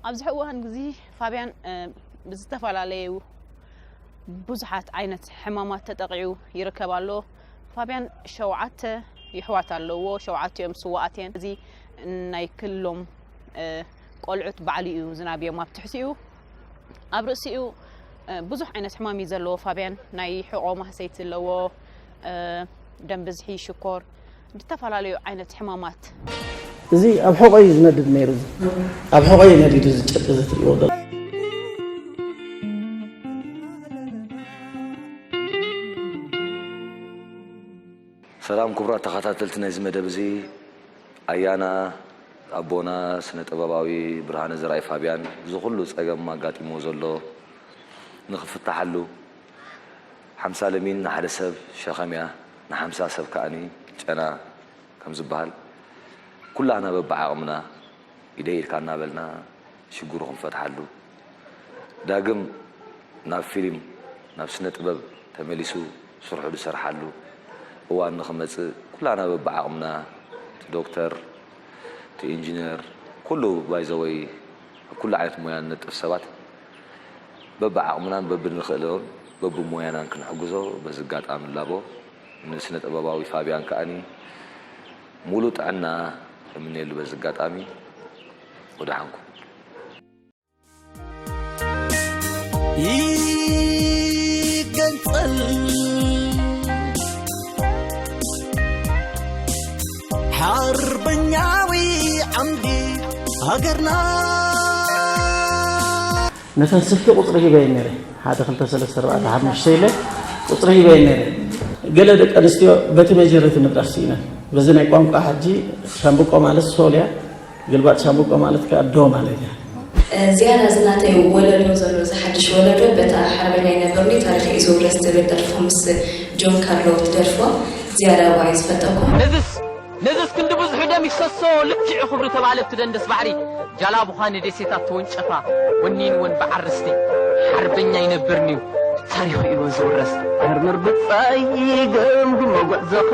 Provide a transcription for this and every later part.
ኣብዚ ሕዚ እዋን እዚ ፋብያን ብዝተፈላለዩ ብዙሓት ዓይነት ሕማማት ተጠቂዑ ይርከብ ኣሎ። ፋብያን ሸውዓተ ይሕዋት ኣለዎ ሸውዓቲኦም ስዋኣት እየን። እዚ ናይ ክሎም ቆልዑት ባዕሉ እዩ ዝናብዮም ኣብ ትሕቲኡ ኣብ ርእሲኡ ብዙሕ ዓይነት ሕማም እዩ ዘለዎ ፋብያን ናይ ሕቆ ማህሰይቲ ኣለዎ ደም ብዝሒ ሽኮር ብዝተፈላለዩ ዓይነት ሕማማት እዚ ኣብ ሕቖ እዩ ዝነድድ ነይሩ እዚ ኣብ ሕቖ እዩ ነዲዱ እዚ ጨርቂ እዚ ትሪእዎ ዘሎ ሰላም ክቡራት ተኸታተልቲ ናይዚ መደብ እዚ ኣያና ኣቦና ስነ ጥበባዊ ብርሃነ ዘርኣይ ፋብያን እዚ ኩሉ ጸገም ኣጋጢምዎ ዘሎ ንክፍታሓሉ ሓምሳ ለሚን ንሓደ ሰብ ሸኸም እያ፣ ንሓምሳ ሰብ ከኣ ጨና ከም ዝበሃል፣ ኩላህና በብዓቕምና ኢደይ ኢድካ እናበልና ሽግሩ ክንፈትሓሉ፣ ዳግም ናብ ፊልም ናብ ስነ ጥበብ ተመሊሱ ስርሑ ዝሰርሓሉ እዋን ንኽመጽእ ኩላህና በብዓቕምና እቲ ዶክተር እቲ ኢንጅነር ኩሉ ባይዘወይ ኣብ ኩሉ ዓይነት ሞያ ንነጥፍ ሰባት በብዓቕምናን በብንኽእሎን በብሞያናን ክንሕግዞ በዚ ኣጋጣሚ ንላቦ። ንስነ ጥበባዊ ፋብያን ከኣ ሙሉእ ጥዕና እምነየሉ በዚ ኣጋጣሚ። ወደሓን ኩን። ይገንጸል። ነተን ስልኪ ቁፅሪ ሂበየን ነይረ ሓደ ክልተ ሰለስተ ኣርባዕተ ሓሙሽተ ኢለ ቁፅሪ ሂበየን ነይረ ገለ ደቂ ኣንስትዮ በቲ መጀረቲ ምድራፍ ስኢነን በዚ ናይ ቋንቋ ሕጂ ሻምብቆ ማለት ሶልያ ግልባጥ ሻምብቆ ማለት ከኣ ዶ ማለት እያ። ዝያዳ እዚ ናተይ ወለዶ ዘሎ እዚ ሓድሽ ወለዶ በታ ሓርበኛይ ነብርኒ ታሪኸይ እዩ ዝውረስ ትብል ደርፉ ምስ ጆን ካርሎ ትደርፎ ዝያዳ ዋይ ዝፈተኩ። ነዝስ ነዝስ ክንዲ ብዝሑ ደም ይፍሰሶ ልክዕ ኹብሪ ተባለት ትደንደስ ባሕሪ ጃላቡኻ ንዴሴታት ተወንጨፋ ወኒንወን ብዓርስቲ ሓርበኛይ ነብርኒ። ታሪኹ እዩ ዝውረስ መርምር ብጻይ ገምግሞ ጉዕዞኻ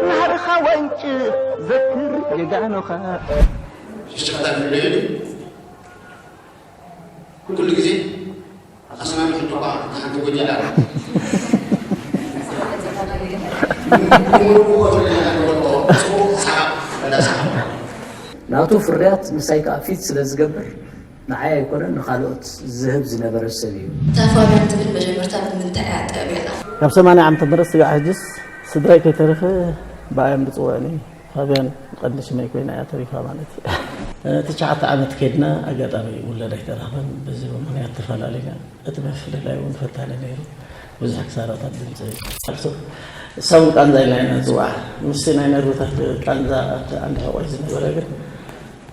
ናህርኻ ወንጭፍ ዘክር ጀጋኑኻ ሽሽቃታት ንለየሉ ኩሉ ግዜ ኣኸስና ንሕልቋ ሓንቲ ጎጃላ ናቱ ፍርያት ምሳይ ከዓ ፊት ስለ ዝገብር ንዓይ ኣይኮነን ንኻልኦት ዝህብ ዝነበረ ሰብ እዩ። እታ ፋብያን ትብል መጀመርታ ብምንታይ እያ ጠብያታ? ካብ ሰማንያ ዓመተ ምህረት ስጋዕ ሕጅስ ስድራይ ከይተረፈ ብኣ እዮም ዝጽውዑኒ። ፋብያን ቀንዲ ሽመይ ኮይና እያ ተሪፋ ማለት እዩ። ትሽዓተ ዓመት ከድና ኣጋጣሚ ውለድ ኣይተረኽበን በዚ ምክንያት ተፈላለና እቲ ምፍልላይ እውን ፈታኒ ነይሩ ብዙሕ ክሳራታት ድምፂ ቃልሶ እሳውን ቃንዛ ኢልና ኢና ንፅዋዕ ምስቲ ናይ ነርብታት ቃንዛ ኣብቲ ዓንዲ ሕቆይ ዝነበረ ግን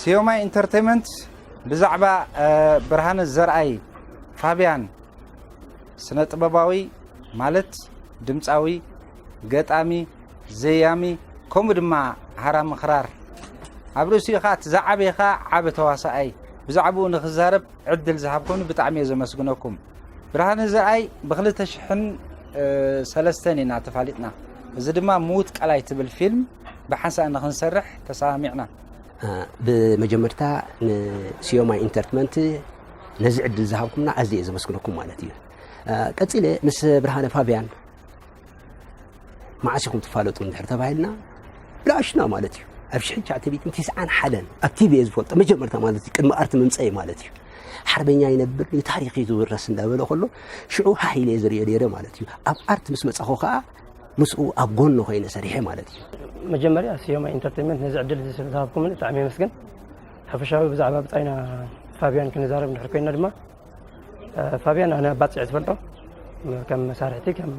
ሲዮማይ ኢንተርተይመንት ብዛዕባ ብርሃነ ዘርኣይ፣ ፋብያን፣ ስነ ጥበባዊ ማለት ድምጻዊ፣ ገጣሚ፣ ዘያሚ ከምኡ ድማ ሃራሚ ክራር ኣብ ርእሲኡ ከኣ እቲ ዝዓበየ ከኣ ዓቢ ተዋሳኣይ ብዛዕብኡ ንክዛረብ ዕድል ዝሃብኩምኒ ብጣዕሚ እየ ዘመስግነኩም። ብርሃነ ዘርኣይ ብክልተ ሽሕን ሰለስተን ኢና ተፋሊጥና እዚ ድማ ምዉት ቀላይ ትብል ፊልም ብሓንሳእ ንክንሰርሕ ተሰማሚዕና። ብመጀመርታ ንሲዮማ ኢንተርትመንት ነዚ ዕድል ዝሃብኩምና ኣዝየ እየ ዘመስግነኩም ማለት እዩ ቀፂለ ምስ ብርሃነ ፋብያን መዓስ ኢኹም ትፋለጡ እንድሕር ተባሂልና ብላሽና ማለት እዩ ኣብ ሽሕን ሸዓተቤትን ቲስዓን ሓደን ኣብ ቲቪ እየ ዝፈልጦ መጀመርታ ማለት እዩ ቅድሚ ኣርቲ ምምፀኢ ማለት እዩ ሓርበኛ ይነብር እዩ ታሪክ እዩ ዝውረስ እንዳበለ ከሎ ሽዑ ሃህ ኢለ ዝሪኦ ነይረ ማለት እዩ ኣብ ኣርት ምስ መፃኹ ከዓ ምስኡ ኣብ ጎኑ ኮይነ ሰሪሐ ማለት እዩ። መጀመርያ ስዮማይ ኢንተርተይመንት ነዚ ዕድል እዚ ስለ ዝሃብኩምኒ ብጣዕሚ የመስግን። ሓፈሻዊ ብዛዕባ ብጻይና ፋብያን ክንዛረብ እንድሕር ኮይና ድማ ፋብያን ኣነ ኣባጽዕ ትፈልጦ ከም መሳርሕቲ ከም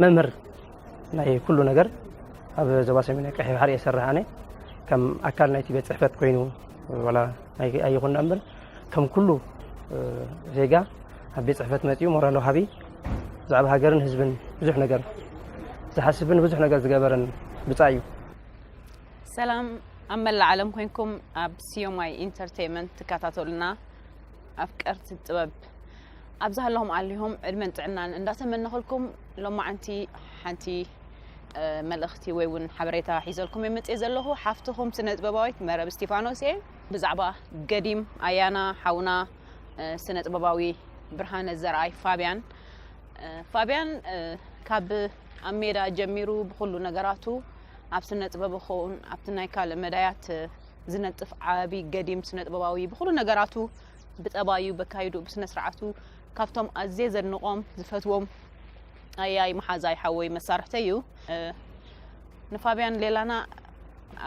መምህር ናይ ኩሉ ነገር ኣብ ዞባ ሰሜን ቀይሕ ባሕሪ እየ ዝሰርሕ ኣነ ከም ኣካል ናይቲ ቤት ፅሕፈት ኮይኑ ዋላ ኣይኹና እምበር ከም ኩሉ ዜጋ ኣብ ቤት ፅሕፈት መፂኡ ሞራል ወሃቢ ብዛዕባ ሃገርን ህዝብን ብዙሕ ነገር ዝሓስብን ብዙሕ ነገር ዝገበረን ብፃይ እዩ ሰላም ኣብ መላእ ዓለም ኮንኩም ኣብ ሲዮማይ ኢንተርቴንመንት ትከታተሉና ኣፍቀርቲ ጥበብ ኣብዛ ኣለኹም ኣሊኹም ዕድመን ጥዕናን እንዳተመነኸልኩም ሎማዓንቲ ሓንቲ መልእኽቲ ወይ እውን ሓበሬታ ሒዘልኩም እየ መፅኤ ዘለኹ ሓፍትኹም ስነ ጥበባዊት መረብ እስቲፋኖስ እየ ብዛዕባ ገዲም ኣያና ሓውና ስነጥበባዊ ብርሃነ ዘርኣይ ፋብያን ፋብያን ካብ ኣብ ሜዳ ጀሚሩ ብኩሉ ነገራቱ ኣብ ስነጥበብ ኾውን ኣብቲ ናይ ካልእ መዳያት ዝነጥፍ ዓቢ ገዲም ስነጥበባዊ ብኩሉ ነገራቱ ብጠባዩ በካይዱ ብስነስርዓቱ ካብቶም ኣዝየ ዘድንቆም ዝፈትዎም ኣያይ መሓዛይ ሓወይ መሳርሕተይ እዩ ንፋብያን ሌላና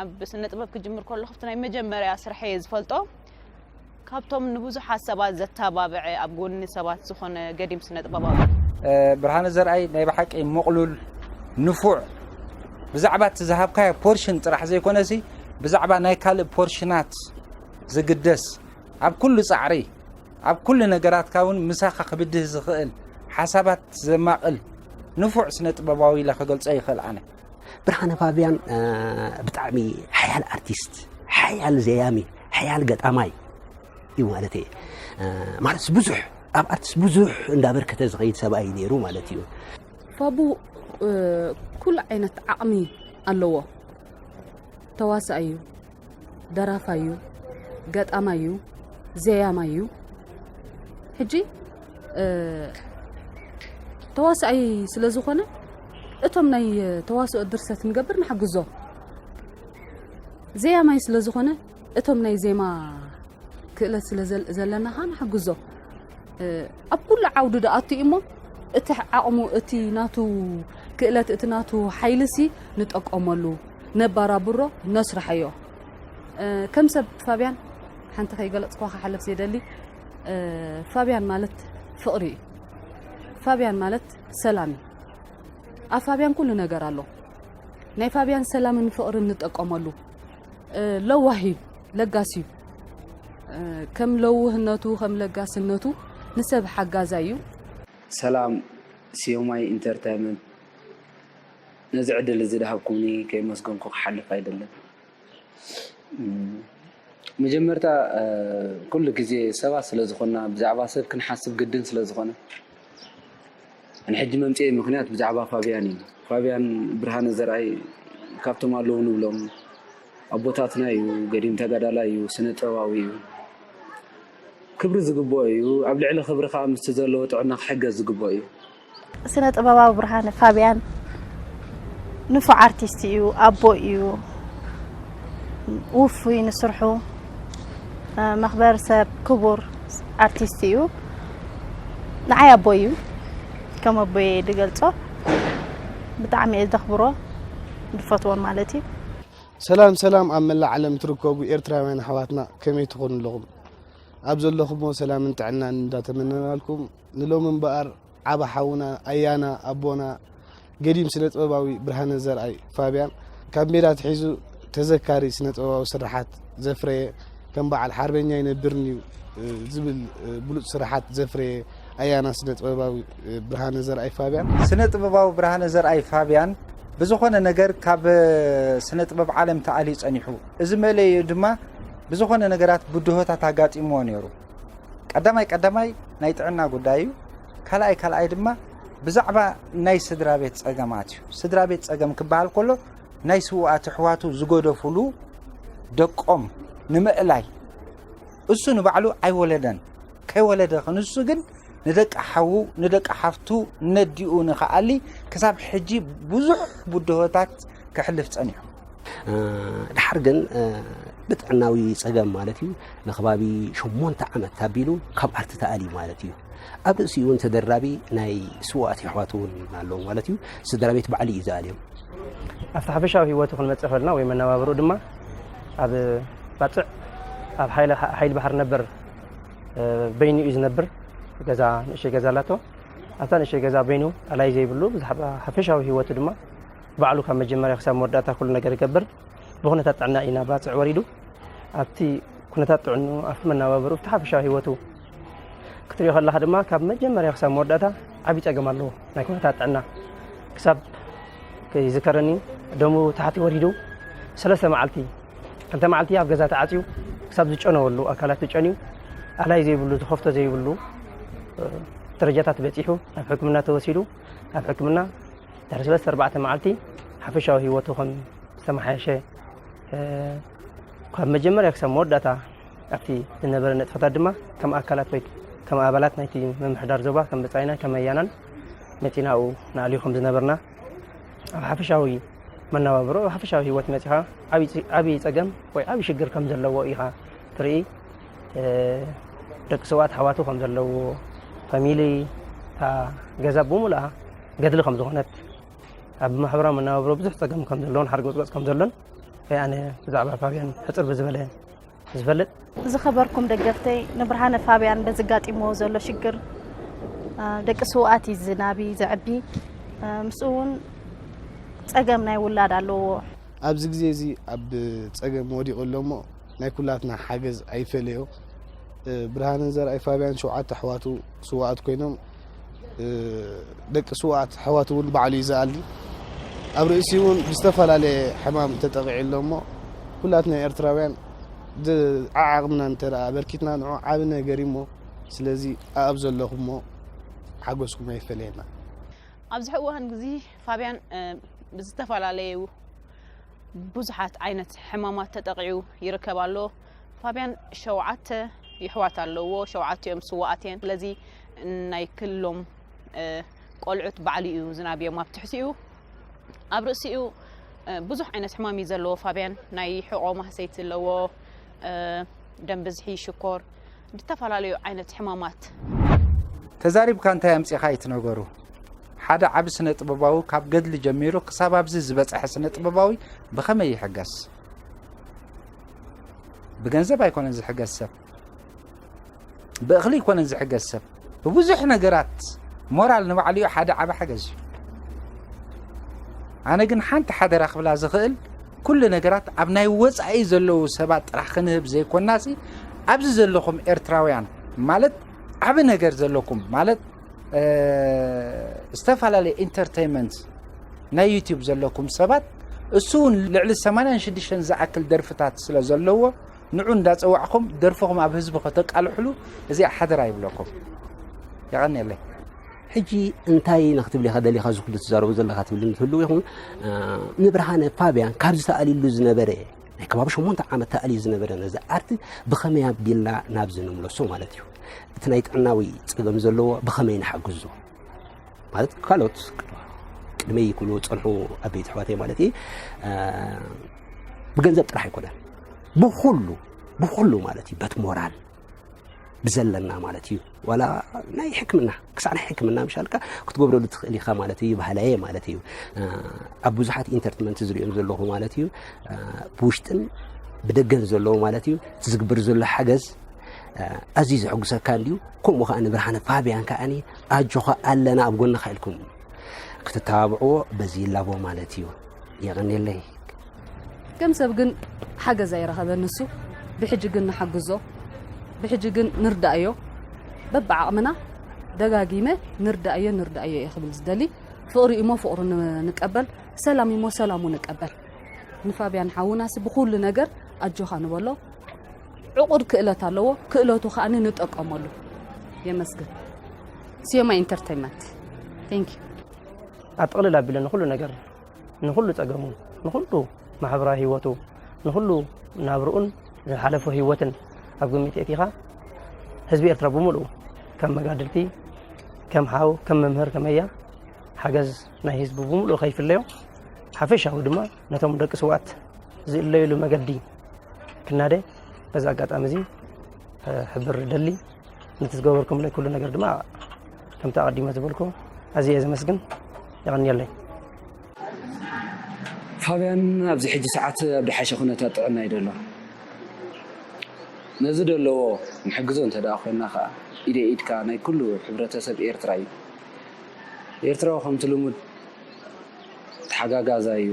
ኣብ ስነ ጥበብ ክጅምር ከሎ ክፍቲ ናይ መጀመርያ ስርሐ እየ ዝፈልጦ ካብቶም ንብዙሓት ሰባት ዘተባብዐ ኣብ ጎኒ ሰባት ዝኾነ ገዲም ስነ ጥበባዊ ብርሃነ ዘርኣይ ናይ ብሓቂ ምቕሉል ንፉዕ ብዛዕባ እቲ ዝሃብካዮ ፖርሽን ጥራሕ ዘይኮነሲ ብዛዕባ ናይ ካልእ ፖርሽናት ዝግደስ ኣብ ኩሉ ፃዕሪ ኣብ ኩሉ ነገራትካ እውን ምሳኻ ክብድህ ዝኽእል ሓሳባት ዘማቕል ንፉዕ ስነ ጥበባዊ ኢለ ክገልጾ ይኽእል ኣነ። ብርሃነ ፋብያን ብጣዕሚ ሓያል ኣርቲስት ሓያል ዘያሚ ሓያል ገጣማይ እዩ ማለት እየ ማለት ብዙሕ ኣብ ኣርቲስት ብዙሕ እንዳበርከተ ዝኸይድ ሰብኣይ እዩ ነይሩ ማለት እዩ ፋቡ ኩሉ ዓይነት ዓቕሚ ኣለዎ ተዋሳኣይ እዩ፣ ደራፋይ እዩ፣ ገጣማይ እዩ፣ ዘያማይ እዩ። ሕጂ ተዋሳኣይ ስለ ዝኾነ እቶም ናይ ተዋስኦ ድርሰት ንገብር ንሓግዞ። ዘያማይ ስለ ዝኾነ እቶም ናይ ዜማ ክእለት ስለ ዘለና ኸዓ ንሓግዞ። ኣብ ኩሉ ዓውዲ ዶኣቱ እዩሞ እቲ ዓቕሙ እቲ ናቱ ክእለት እቲ ናቱ ሓይልሲ ንጠቀመሉ ነባራብሮ ነስርሐዮ ከም ሰብ ፋብያን ሓንቲ ከይገለፅኳ ክሓለፍ ዘይደሊ ፋብያን ማለት ፍቕሪ እዩ ፋብያን ማለት ሰላም እዩ ኣብ ፋብያን ኩሉ ነገር ኣሎ ናይ ፋብያን ሰላምን ፍቕርን ንጠቀመሉ ለዋህ እዩ ለጋስ እዩ ከም ለውህነቱ ከም ለጋስነቱ ንሰብ ሓጋዛይ እዩ። ሰላም ሲዮማይ ኢንተርተይመንት ነዚ ዕድል እዚ ድሃብኩምኒ ከየመስገንኩ ክሓልፍ ኣይደልን። መጀመርታ ኩሉ ግዜ ሰባት ስለ ዝኾንና ብዛዕባ ሰብ ክንሓስብ ግድን ስለ ዝኾነ፣ ንሕጂ መምጽኤይ ምኽንያት ብዛዕባ ፋብያን እዩ። ፋብያን ብርሃነ ዘርኣይ ካብቶም ኣለዉ ንብሎም ኣቦታትና እዩ። ገዲም ተጋዳላይ እዩ፣ ስነ ጥበባዊ እዩ። ክብሪ ዝግብኦ እዩ። ኣብ ልዕሊ ክብሪ ከኣ ምስቲ ዘለዎ ጥዕና ክሕገዝ ዝግብኦ እዩ። ስነ ጥበባዊ ብርሃነ ፋብያን ንፉዕ ኣርቲስት እዩ፣ ኣቦ እዩ። ውፉይ ንስርሑ መክበር ሰብ ክቡር ኣርቲስት እዩ ንዓይ ኣቦይ እዩ ከም ኣቦይ ዝገልፆ ብጣዕሚ እየ ዘኽብሮ ዝፈትዎን ማለት እዩ ሰላም ሰላም ኣብ መላእ ዓለም ትርከቡ ኤርትራውያን ኣሕዋትና ከመይ ትኾኑ ኣለኹም ኣብ ዘለኹሞ ሰላምን ጥዕናን እንዳተመነናልኩም ንሎሚ እምበኣር ዓቢ ሓውና ኣያና ኣቦና ገዲም ስነጥበባዊ ብርሃነ ዘርኣይ፣ ፋብያን፣ ካብ ሜዳ ኣትሒዙ ተዘካሪ ስነጥበባዊ ስርሓት ዘፍረየ ከም በዓል ሓርበኛ ይነብርን'ዩ ዝብል ብሉጽ ስርሓት ዘፍረየ ኣያና ስነጥበባዊ ብርሃነ ዘርኣይ፣ ፋብያን። ስነጥበባዊ ብርሃነ ዘርኣይ፣ ፋብያን፣ ብዝኾነ ነገር ካብ ስነጥበብ ዓለም ተኣልዩ ጸኒሑ። እዚ መለይኡ ድማ ብዝኾነ ነገራት ብድሆታት ኣጋጢምዎ ነይሩ። ቀዳማይ ቀዳማይ ናይ ጥዕና ጉዳይ እዩ ካልኣይ ካልኣይ ድማ ብዛዕባ ናይ ስድራ ቤት ጸገማት እዩ ስድራ ቤት ጸገም ክበሃል ከሎ ናይ ስውኣት ኣሕዋቱ ዝገደፍሉ ደቆም ንምእላይ እሱ ንባዕሉ ኣይወለደን ከይወለደ ክንሱ ግን ንደቂ ሓዉ ንደቂ ሓፍቱ ነዲኡ ንኸኣሊ ክሳብ ሕጂ ብዙሕ ብድሆታት ከሕልፍ ጸኒሑ ደሓር ግን ብጥዕናዊ ጸገም ማለት እዩ ንከባቢ ሸሞንተ ዓመት ታቢሉ ካብ ኣርቲ ተኣልዩ ማለት እዩ ኣብ ርእሲኡ እውን ተደራቢ ናይ ስዋኣት የሕዋት እውን ኣለዎ ማለት እዩ ስድራ ቤት ባዕሉ እዩ ዝኣልዮም ኣብቲ ሓፈሻዊ ህይወቱ ክንመፅእ ከለና ወይ መነባብርኡ ድማ ኣብ ባፅዕ ኣብ ሓይሊ ባሕሪ ነበር በይኑ እዩ ዝነብር ገዛ ንእሸይ ገዛ ኣላቶ ኣብታ ንእሸይ ገዛ በይኑ ኣላይ ዘይብሉ ብዛዕባ ሓፈሻዊ ህይወቱ ድማ ባዕሉ ካብ መጀመርያ ክሳብ መወዳእታ ኩሉ ነገር ይገብር። ብኩነታት ጥዕና እዩ ናብ ባጽዕ ወሪዱ። ኣብቲ ኩነታት ጥዕንኡ ኣብቲ መነባብርኡ ኣብቲ ሓፈሻዊ ህይወቱ ክትሪኦ ከለኻ ድማ ካብ መጀመርያ ክሳብ መወዳእታ ዓብዪ ጸገም ኣለዎ ናይ ኩነታት ጥዕና ክሳብ ይዝከረኒ ደሙ ታሕቲ ወሪዱ ሰለስተ መዓልቲ ክልተ መዓልቲ ኣብ ገዛ ተዓፅዩ ክሳብ ዝጨነወሉ ኣካላት ዝጨንዩ ኣላይ ዘይብሉ ዝኸፍቶ ዘይብሉ ደረጃታት በፂሑ ናብ ሕክምና ተወሲዱ ናብ ሕክምና ድሕሪ ሰለስተ ኣርባዕተ መዓልቲ ሓፈሻዊ ህይወቱ ከም ዝተመሓየሸ ካብ መጀመርያ ክሳብ መወዳእታ ኣብቲ ዝነበረ ንጥፈታት ድማ ከም ኣካላት ወይ ከም ኣባላት ናይቲ ምምሕዳር ዞባ ከም ብፃይና ከም ኣያናን መፂናኡ ንኣልዩ ከም ዝነበርና ኣብ ሓፈሻዊ መነባብሮ ኣብ ሓፈሻዊ ህይወት መፂኻ ዓብዪ ፀገም ወይ ዓብዪ ሽግር ከም ዘለዎ ኢኻ ትርኢ ደቂ ሰብኣት ኣሕዋቱ ከም ዘለዎ ፋሚሊ እታ ገዛ ብምሉኣ ገድሊ ከም ዝኾነት ኣብ ማሕበራዊ መነባብሮ ብዙሕ ፀገም ከም ዘለዎን ሓርገፅገፅ ከም ዘሎን ወይ ኣነ ብዛዕባ ፋብያን ሕፅር ብዝበለ ዝፈልጥ ዝኸበርኩም ደገፍተይ ንብርሃነ ፋብያን በዚ ጋጢምዎ ዘሎ ሽግር ደቂ ስውኣት እዩ ዝናቢ ዘዕቢ ምስኡ እውን ፀገም ናይ ውላድ ኣለዎ ኣብዚ ግዜ እዚ ኣብ ፀገም ወዲቑ ኣሎ እሞ ናይ ኩላትና ሓገዝ ኣይፈለዮ ብርሃንን ዘርኣይ ፋብያን ሸውዓተ ኣሕዋቱ ስውኣት ኮይኖም ደቂ ስውኣት ኣሕዋት እውን ባዕሉ እዩ ዝኣሊ ኣብ ርእሲ እውን ዝተፈላለየ ሕማም ተጠቂዑ ኣሎ እሞ ኩላትና ኤርትራውያን ዓዓቕምና እንተ ኣበርኪትና ንዑ ዓብ ነገር እዩሞ ስለዚ ኣኣብ ዘለኹሞ ሓጎስኩም ኣይፈለየና ኣብዚ ሕእ እዋን ግዚ ፋብያን ብዝተፈላለዩ ብዙሓት ዓይነት ሕማማት ተጠቂዑ ይርከብ ኣሎ ፋብያን ሸውዓተ ይሕዋት ኣለውዎ ሸውዓቲኦም ስውኣት እየን ስለዚ ናይ ክሎም ቆልዑት ባዕሉ እዩ ዝናብዮም ኣብ ትሕቲኡ ኣብ ርእሲኡ ብዙሕ ዓይነት ሕማም እዩ ዘለዎ ፋብያን ናይ ሕቆ ማህሰይቲ ኣለዎ ደም ብዝሒ ሽኮር ዝተፈላለዩ ዓይነት ሕማማት ተዛሪብካ እንታይ ኣምጺኻ እዩ ትነገሩ ሓደ ዓቢ ስነ ጥበባዊ ካብ ገድሊ ጀሚሩ ክሳብ ኣብዚ ዝበጽሐ ስነ ጥበባዊ ብኸመይ ይሕገስ ብገንዘብ ኣይኮነን ዝሕገዝ ሰብ ብእኽሊ ኣይኮነን ዝሕገዝ ሰብ ብብዙሕ ነገራት ሞራል ንባዕሉ እዩ ሓደ ዓበ ሓገዝ እዩ ኣነ ግን ሓንቲ ሓደራ ክብላ ዝኽእል ኩሉ ነገራት ኣብ ናይ ወፃኢ ዘለዉ ሰባት ጥራሕ ክንህብ ዘይኮናሲ ኣብዚ ዘለኹም ኤርትራውያን ማለት ዓብ ነገር ዘለኩም ማለት ዝተፈላለየ ኢንተርተይመንት ናይ ዩቲዩብ ዘለኩም ሰባት እሱ እውን ልዕሊ 86 ዝኣክል ደርፍታት ስለ ዘለዎ ንዑ እንዳፀዋዕኹም ደርፍኹም ኣብ ህዝቢ ከተቃልሕሉ እዚኣ ሓደራ ይብለኩም የቐኒየለይ ሕጂ እንታይ ኢና ክትብል ኢኻ ደሊኻ እዚ ኩሉ ትዛረቦ ዘለኻ ትብልኒ ትህልው ይኹን ንብርሃነ ፋብያን ካብ ዝተኣልሉ ዝነበረ ናይ ከባቢ ሸሞንተ ዓመት ተኣልዩ ዝነበረ ነዚ ኣርት ብኸመይ ኣቢልና ናብዚ ንምለሶ ማለት እዩ። እቲ ናይ ጥዕናዊ ጸገም ዘለዎ ብኸመይ ንሓግዞ ማለት ካልኦት ቅድመይ ክብሉ ጸንሑ ኣበይቲ ኣሕዋተይ ማለት እዩ ብገንዘብ ጥራሕ ኣይኮነን ብኹሉ ብኹሉ ማለት እዩ በት ሞራል ብዘለና ማለት እዩ ዋላ ናይ ሕክምና ክሳዕ ናይ ሕክምና ምሻልካ ክትገብረሉ ትኽእል ኢኻ ማለት እዩ ባህላየ ማለት እዩ ኣብ ብዙሓት ኢንተርትመንት ዝሪኦም ዘለኹ ማለት እዩ ብውሽጥን ብደገን ዘለዎ ማለት እዩ እቲ ዝግበር ዘሎ ሓገዝ ኣዝዩ ዘሐጉሰካ እንድዩ ከምኡ ከዓ ንብርሃነ ፋብያን ከዓኒ ኣጆኻ ኣለና ኣብ ጎንኻ ኢልኩም ክትተባብዕዎ በዚ ይላቦ ማለት እዩ የቐኒለይ ከም ሰብ ግን ሓገዝ ኣይረኸበን ንሱ ብሕጂ ግን ንሓግዞ ብሕጂ ግን ንርዳእዮ በብዓቕምና ደጋጊመ ንርዳእዮ ንርዳእዮ እየ ክብል ዝደሊ ፍቕሪ እሞ ፍቕሩ ንቀበል ሰላም እሞ ሰላሙ ንቀበል ንፋብያን ሓውናሲ ብኩሉ ነገር ኣጆኻ ንበሎ ዕቑድ ክእለት ኣለዎ ክእለቱ ከዓ ንጠቀመሉ የመስግን ሲዮማ ኢንተርቴንመንት ቴንክ ኣብ ጥቕልል ኣቢለ ንኩሉ ነገር ንኹሉ ጸገሙ ንኹሉ ማሕበራዊ ህይወቱ ንኹሉ ናብርኡን ዝሓለፎ ህይወትን ኣብ ግምት የእቲኻ ህዝቢ ኤርትራ ብምሉኡ ከም መጋድልቲ ከም ሓው ከም መምህር ከመያ ሓገዝ ናይ ህዝቢ ብምሉኡ ከይፍለዮ ሓፈሻዊ ድማ ነቶም ደቂ ስዋት ዝእለይሉ መገዲ ክናደ በዚ ኣጋጣሚ እዚ ሕብር ደሊ ነቲ ዝገበርኩምለይ ኩሉ ነገር ድማ ከምቲ ኣቐዲመ ዝበልኩ ኣዝየ እየ ዘመስግን የቐንየለይ ፋብያን ኣብዚ ሕጂ ሰዓት ኣብ ድሓሸ ኩነታት ጥዕና እዩ ደሎ ነዚ ደለዎ ንሕግዞ እንተ ደኣ ኮይና ከኣ ኢደ ኢድካ ናይ ኩሉ ሕብረተሰብ ኤርትራ እዩ ኤርትራዊ ከምቲ ልሙድ ተሓጋጋዛ እዩ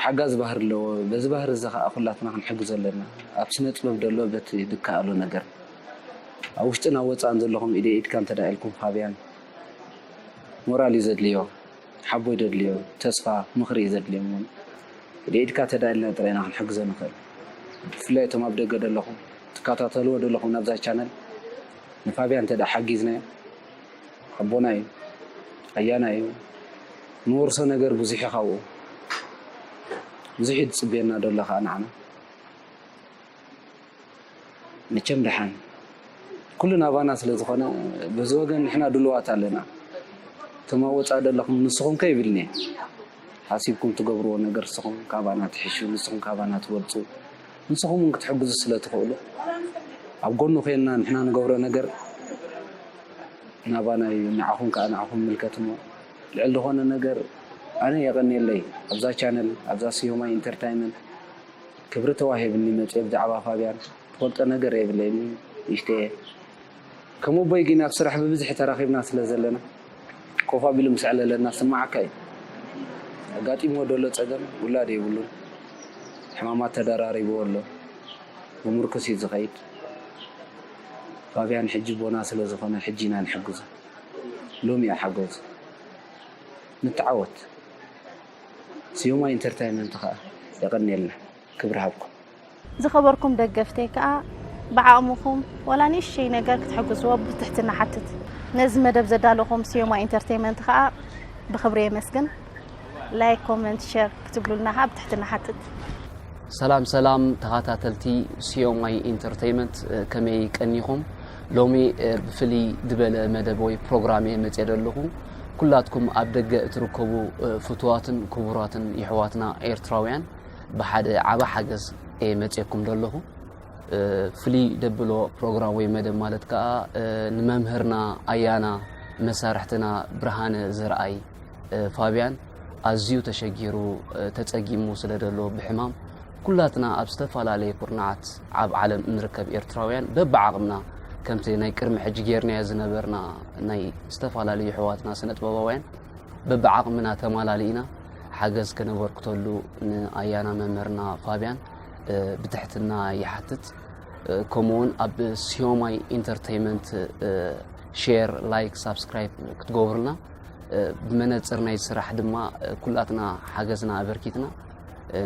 ሓጋዚ ባህሪ ኣለዎ በዚ ባህሪ እዚ ከዓ ኩላትና ክንሕግዞ ኣለና ኣብ ስነ ጥበብ ደሎ በቲ ድከኣሎ ነገር ኣብ ውሽጥን ኣብ ወጻእን ዘለኹም ኢደይ ኢድካ እንተድኣ ኢልኩም ፋብያን ሞራል እዩ ዘድልዮ ሓቦ እዩ ዘድልዮ ተስፋ ምኽሪ እዩ ዘድልዮ እሞ ኢደይ ኢድካ እንተድኣ ኢልና ጥራይ ኢና ክንሕግዞ ንኽእል ብፍላይ እቶም ኣብ ደገ ዘለኹም ትከታተልዎ ዘለኹም ናብዛ ቻነል ንፋብያን እንተድኣ ሓጊዝናዮ ሓቦና እዩ ኣያና እዩ ንወርሶ ነገር ብዙሕ እዩ ካብኡ ብዙሕ እዩ ዝፅበየና ደሎ ከዓ ንዓና መቸም ደሓን ኩሉ ናባና ስለ ዝኾነ በዚ ወገን ንሕና ድልዋት ኣለና እቶም ኣብ ወፃኢ ዘለኹም ንስኹም ከ ይብልኒ ሓሲብኩም ትገብርዎ ነገር ንስኹም ካባና ትሕሹ ንስኹም ካባና ትበልፁ ንስኹም እውን ክትሕግዙ ስለ ትኽእሉ ኣብ ጎኑ ኮይንና ንሕና ንገብሮ ነገር ናባና እዩ ንዓኹም ከዓ ንዓኹም ምልከት እሞ ልዕሊ ዝኾነ ነገር ኣነ የቐኒየለይ ኣብዛ ቻነል ኣብዛ ስዮማይ ኢንተርታይመንት ክብሪ ተዋሂብኒ መጽየ ብዛዕባ ፋብያን ትፈልጦ ነገር የብለይን ንእሽተየ ከም ኣቦይ ግን ኣብ ስራሕ ብብዝሒ ተራኺብና ስለ ዘለና ኮፍ ኣቢሉ ምስ ዕለለና ዝስምዓካ እዩ ኣጋጢምዎ ደሎ ጸገም ውላድ የብሉን ሕማማት ተደራሪብዎ ኣሎ ብምርኩስ እዩ ዝኸይድ ፋብያን ሕጂ ቦና ስለ ዝኾነ ሕጂ ኢና ንሕግዙ ሎሚ እዩ ሓገዙ ንተዓወት ስዩማይ ኢንተርታይመንት ከኣ የቐንየልና ክብሪ ሃብኩም። ዝኸበርኩም ደገፍተይ ከኣ ብዓቕምኹም ዋላ ንእሽተይ ነገር ክትሕግዝዎ ብትሕትና ሓትት። ነዚ መደብ ዘዳለኹም ስዩማይ ኢንተርቴይመንት ከኣ ብኽብሪ የመስግን። ላይክ ኮመንት ሸር ክትብሉልና ከኣ ብትሕትና ሓትት። ሰላም ሰላም ተኻታተልቲ ስዮማይ ኢንተርቴይመንት ከመይ ቀኒኹም ሎሚ ብፍልይ ድበለ መደብ ወይ ፕሮግራም እየ መጽየ ደለኹ ኩላትኩም ኣብ ደገ እትርከቡ ፍቱዋትን ክቡራትን የሕዋትና ኤርትራውያን ብሓደ ዓቢ ሓገዝ እየ መጽየኩም ደለኹ ፍልይ ደብሎ ፕሮግራም ወይ መደብ ማለት ከኣ ንመምህርና ኣያና መሳርሕትና ብርሃነ ዘርኣይ ፋብያን ኣዝዩ ተሸጊሩ ተጸጊሙ ስለ ደሎ ብሕማም ኩላትና ኣብ ዝተፈላለየ ኩርናዓት ኣብ ዓለም እንርከብ ኤርትራውያን በብዓቕምና ከምቲ ናይ ቅድሚ ሕጂ ጌርናዮ ዝነበርና ናይ ዝተፈላለዩ ኣሕዋትና ስነጥበባውያን በብዓቕምና ተማላሊእና ሓገዝ ከነበርክተሉ ንኣያና መምህርና ፋብያን ብትሕትና ይሓትት ከምኡውን ኣብ ሲዮማይ ኢንተርተይመንት ሼር ላይክ ሳብስክራይብ ክትገብሩልና ብመነፅር ናይ ስራሕ ድማ ኩላትና ሓገዝና ኣበርኪትና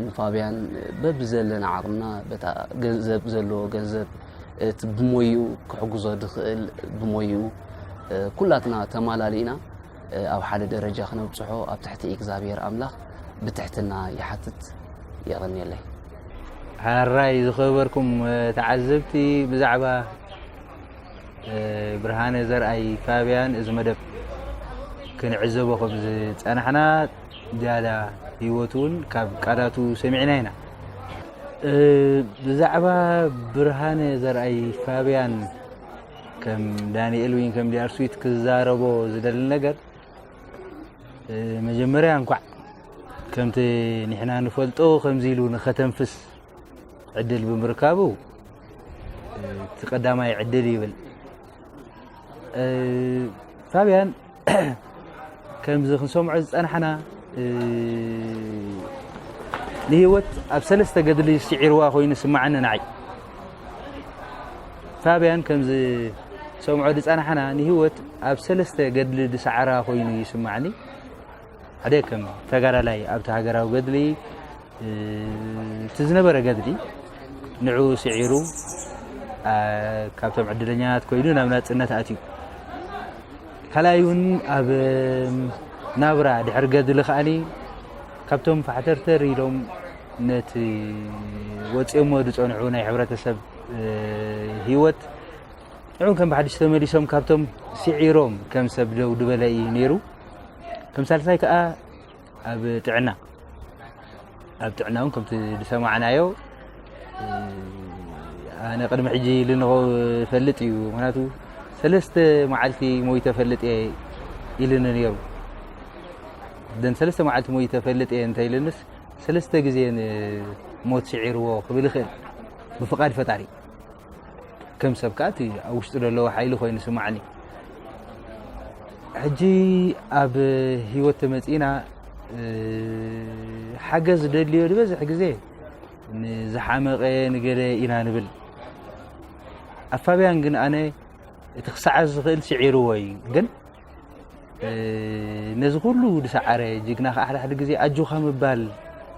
ንፋብያን በብዘለና ዓቕምና በታ ገንዘብ ዘለዎ ገንዘብ እቲ ብሞይኡ ክሕግዞ ድኽእል ብሞይኡ ኩላትና ተማላሊእና ኣብ ሓደ ደረጃ ክነብፅሖ ኣብ ትሕቲ እግዚኣብሔር ኣምላኽ ብትሕትና ይሓትት የቐኒየለይ ሓራይ ዝኸበርኩም ተዓዘብቲ ብዛዕባ ብርሃነ ዘርኣይ ፋብያን እዚ መደብ ክንዕዘቦ ከም ዝፀናሕና ዝያዳ ህይወት እውን ካብ ቃላቱ ሰሚዕና ኢና። ብዛዕባ ብርሃነ ዘርኣይ ፋብያን ከም ዳንኤል ወይ ከም ዲኣር ስዊት ክዛረቦ ዝደሊ ነገር መጀመርያ እንኳዕ ከምቲ ንሕና ንፈልጦ ከምዚ ኢሉ ንኸተንፍስ ዕድል ብምርካቡ እቲ ቀዳማይ ዕድል ይብል ፋብያን ከምዚ ክንሰምዖ ዝፀናሕና ንሂወት ኣብ ሰለስተ ገድሊ ስዒርዋ ኮይኑ ስማዓኒ ንዓይ ፋብያን ከምዚ ሰምዖ ዝፀናሕና ንሂወት ኣብ ሰለስተ ገድሊ ዝሰዓራ ኮይኑ ይስማዓኒ ሓደ ከም ተጋዳላይ ኣብቲ ሃገራዊ ገድሊ እቲ ዝነበረ ገድሊ ንዑ ስዒሩ ካብቶም ዕድለኛት ኮይኑ ናብ ናፅነት ኣትዩ ካልኣይ እውን ኣብ ናብራ ድሕሪ ገድሊ ከዓኒ ካብቶም ፋሕተርተር ኢሎም ነቲ ወፂኦሞ ዝፀንዑ ናይ ሕብረተሰብ ሂወት ንዕኡም ከም ብሓድሽ ተመሊሶም ካብቶም ስዒሮም ከም ሰብ ደው ድበለ እዩ ነይሩ ከም ሳልሳይ ከዓ ኣብ ጥዕና ኣብ ጥዕና እውን ከምቲ ዝሰማዕናዮ ኣነ ቅድሚ ሕጂ ልንኸ ፈልጥ እዩ ምክንያቱ ሰለስተ መዓልቲ ሞይ ተፈልጥ እየ ኢልኒ ነይሩ ደን ሰለስተ መዓልቲ ሞይ ተፈልጥ እየ እንታይ ኢልንስ ሰለስተ ግዜ ሞት ስዒርዎ ክብል ይኽእል ብፍቓድ ፈጣሪ ከም ሰብ ከኣ እቲ ኣብ ውሽጢ ዘለዎ ሓይሊ ኮይኑ ስማዕኒ ሕጂ ኣብ ሂወት ተመፂእና ሓገዝ ደልዮ ዝበዝሕ ግዜ ንዝሓመቐ ንገለ ኢና ንብል ኣብ ፋብያን ግን ኣነ እቲ ክሰዓዝ ዝኽእል ስዒርዎ እዩ ግን ነዚ ኩሉ ዝሰዓረ ጅግና ከ ሓድሓደ ግዜ ኣጆካ ምባል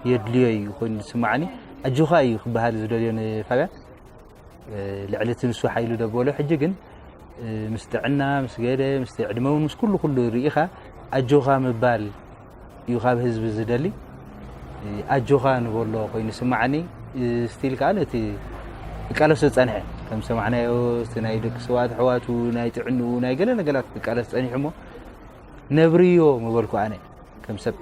የድልዮ እዩ ኮይኑ ዝስማዓኒ ኣጆካ እዩ ክበሃል ዝደልዮ ንፋብያን ልዕሊ እቲ ንሱ ሓይሉ ደበሎ ሕጂ ግን ምስ ጥዕና ምስ ገለ ምስ ዕድመ ውን ምስ ኩሉ ኩሉ ርኢኻ ኣጆካ ምባል እዩ ካብ ህዝቢ ዝደሊ ኣጆኻ ንበሎ ኮይኑ ስማዓኒ ስቲል ከዓ ነቲ ቃለስ ዝፀንሐ ከም ሰማዕናዮ ናይ ደቂ ሰዋት ኣሕዋቱ ናይ ጥዕንኡ ናይ ገለ ነገራት ቃለስ ፀኒሑ ሞ ነብርዮ ምበልኩ ኣነ ከም ሰብ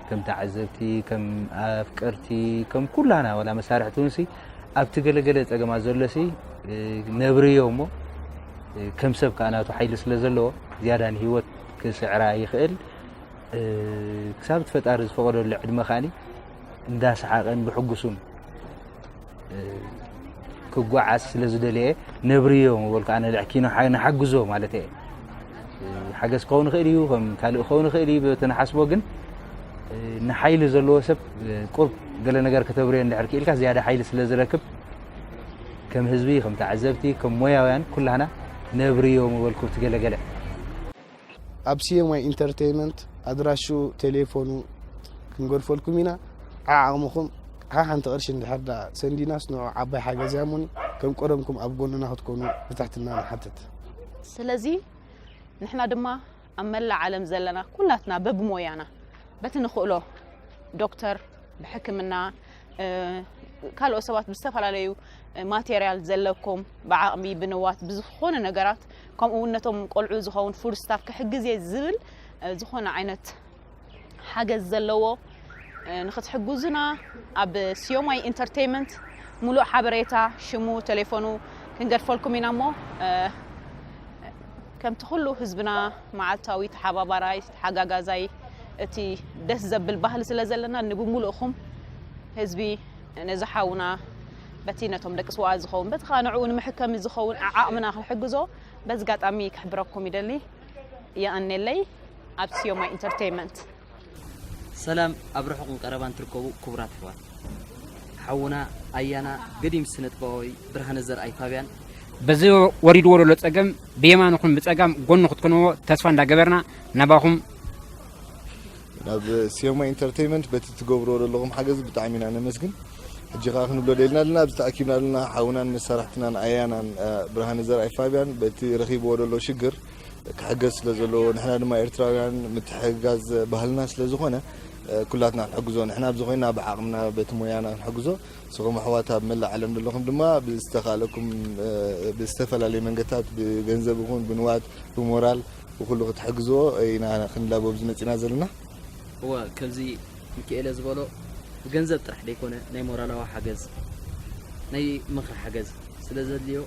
ከም ተዓዘብቲ ከም ኣፍቀርቲ ከም ኩላና ዋላ መሳርሕቲ ውንሲ ኣብቲ ገለገለ ፀገማት ዘሎሲ ነብርዮ እሞ ከም ሰብ ከዓናቱ ሓይሊ ስለ ዘለዎ ዝያዳ ንሂወት ክስዕራ ይኽእል ክሳብ እቲ ፈጣሪ ዝፈቐደሉ ዕድመ ከኣ እንዳሰሓቐን ብሕጉሱን ክጓዓዝ ስለ ዝደለየ ነብርዮ ምበልኩ ኣነ ልዕኪ ንሓግዞ ማለት እየ ሓገዝ ክኸውን ይኽእል እዩ ከም ካልእ ክኸውን ይኽእል እዩ በቲ ንሓስቦ ግን ንሓይሊ ዘለዎ ሰብ ቁርብ ገለ ነገር ከተብርዮ እንድሕር ክኢልካ ዝያዳ ሓይሊ ስለ ዝረክብ ከም ህዝቢ ከም ተዓዘብቲ ከም ሞያውያን ኩላህና ነብርዮ ምበልኩ ኣብቲ ገለ ገለ። ኣብ CMY Entertainment ኣድራሽኡ ቴሌፎኑ ክንገድፈልኩም ኢና ዓዓቕምኹም ሓሓንቲ ቅርሺ እንድሕር ድኣ ሰንዲናስ ንዑ ዓባይ ሓገዝ እያ እሙኒ ከም ቀደምኩም ኣብ ጎንና ክትኮኑ ብትሕትና ንሓትት። ስለዚ ንሕና ድማ ኣብ መላእ ዓለም ዘለና ኩላትና በብሞያና በቲ ንኽእሎ ዶክተር ብሕክምና ካልኦት ሰባት ብዝተፈላለዩ ማቴሪያል ዘለኩም ብዓቕሚ ብንዋት ብዝኾነ ነገራት ከምኡ እውን ነቶም ቆልዑ ዝኸውን ፉድ ስታፍ ክሕግዝ እየ ዝብል ዝኾነ ዓይነት ሓገዝ ዘለዎ ንክትሕግዙና ኣብ ስዮማይ ኢንተርቴይመንት ሙሉእ ሓበሬታ ሽሙ ቴሌፎኑ ክንገድፈልኩም ኢና እሞ ከምቲ ኩሉ ህዝብና መዓልታዊ ተሓባባራይ ተሓጋጋዛይ እቲ ደስ ዘብል ባህሊ ስለ ዘለና ንብሙሉእኹም ህዝቢ ነዚ ሓውና በቲ ነቶም ደቂ ስዋኣ ዝኸውን በቲ ከዓ ንዕኡ ንምሕከሚ ዝኸውን ዓቕምና ክንሕግዞ በዚ ኣጋጣሚ ክሕብረኩም ይደሊ የቐኔለይ ኣብ ሲዮማ ኢንተርተይመንት። ሰላም ኣብ ርሑቕን ቀረባን ትርከቡ ክቡራት ኣሕዋት ሓውና ኣያና ገዲም ስነጥበባዊ ብርሃነ ዘርኣይ ፋብያን በዚ ወሪድዎ ዘሎ ጸገም ብየማንኹም ብጸጋም ጎኑ ክትኮንዎ ተስፋ እንዳገበርና ናባኹም ናብ ሲዮማ ኢንተርተይመንት በቲ ትገብርዎ ዘለኹም ሓገዝ ብጣዕሚ ኢና ነመስግን ሕጂ ከዓ ክንብሎ ደልና ኣለና ኣብዚ ተኣኪብና ኣለና ሓውናን መሳርሕትናን ኣያናን ብርሃነ ዘርኣይ ፋብያን በቲ ረኺብዎ ዘሎ ሽግር ክሕገዝ ስለ ዘለዎ ንሕና ድማ ኤርትራውያን ምትሕግጋዝ ባህልና ስለ ዝኾነ ኩላትና ክንሕግዞ ንሕና ኣብዚ ኮይና ብዓቕምና በቲ ሞያና ክንሕግዞ ንስኹም ኣሕዋት ኣብ መላእ ዓለም ዘለኹም ድማ ብዝተኻለኩም ብዝተፈላለዩ መንገድታት ብገንዘብ ይኹን ብንዋት ብሞራል ብኩሉ ክትሕግዝዎ ኢና ክንላቦ ኣብዚ መፂና ዘለና እወ ከምዚ ሚካኤለ ዝበሎ ብገንዘብ ጥራሕ ደይኮነ ናይ ሞራላዊ ሓገዝ ናይ ምኽሪ ሓገዝ ስለ ዘድልዮ